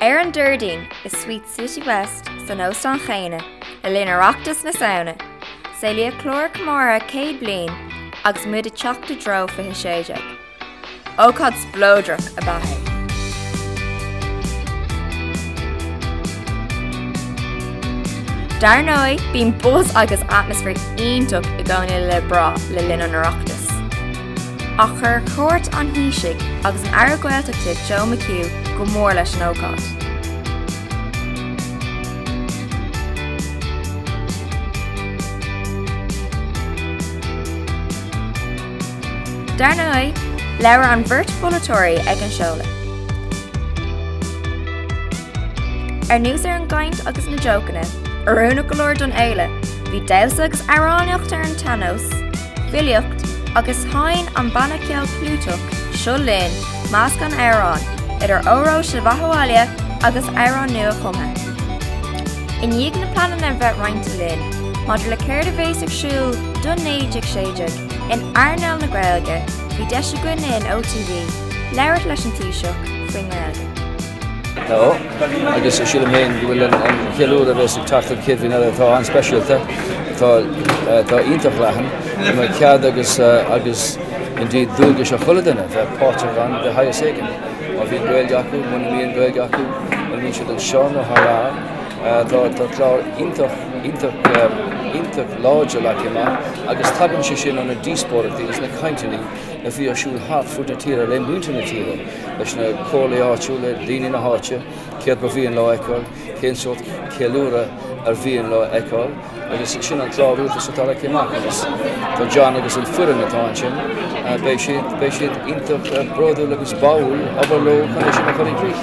Ar an Déardaoin i Suite Citywest san óstán chéanna le linn Oireachtas na Samhna, saolaíodh clár comórtha céad bliain agus muid ag teacht i dtreo fiche sé déag. Ócáid spleodrach ab ea é. Dar ndóigh, bíonn buzz agus atmaisféar iontach i gcónaí le brath le linn an Oireachtais. Ach chuir cuairt an Thaoisigh agus an Aire Gaeltachta Joe McHugh go mór leis an ócáid. Dar ndóigh, labhair an bheirt pholaiteoirí ag an seoladh. Anuas ar an gcaint agus na jócanna, oiriúnach go leor don fhéile, bhí damhsa agus amhránaíocht ar an tsean-nós, filíocht, agus sheinn an banna ceoil clúiteach Seo Linn meascán amhrán, idir Óró Sé do Bheatha Abhaile agus amhráin nua-chumtha. I ndiaidh na pleananna a bheith roinnte linn maidir le céard a bheas ar siúl don 1916 in earnáil na Gaeilge, bhí deis againn in OTV labhairt leis an Taoiseach faoin nGaeilge. leo agus sílim féin go bhfuil an cheiliúradh a bheas ag teacht an chéad bhliain eile atá an-speisialta, atá iontach leathan, go mbeidh cead agus indeed dualgas ar chuile duine bheith páirteach ann de shaghas éigin. Má bhíonn Gaeilge acu, muna mbíonn Gaeilge acu, má bhíonn siad anseo nó thar lear. Tá clár iontach láidir leagtha amach agus tagann sé sin ó na díospóireachtaí is na cainteanna a bhí ar siúl thart fud na tíre le muintir na tíre, leis na comhairlí áitiúla, daoine na háite, céard ba mhian leo a fheiceáil. cén sórt ceiliúradh ar mhian leo a fheiceáil agus sin an clár rialtais atá leagtha amach agus tá John agus an foireann atá ansin beidh siad iontach eh, bródúil agus báúil obair leo chun é sin a chur i gcrích.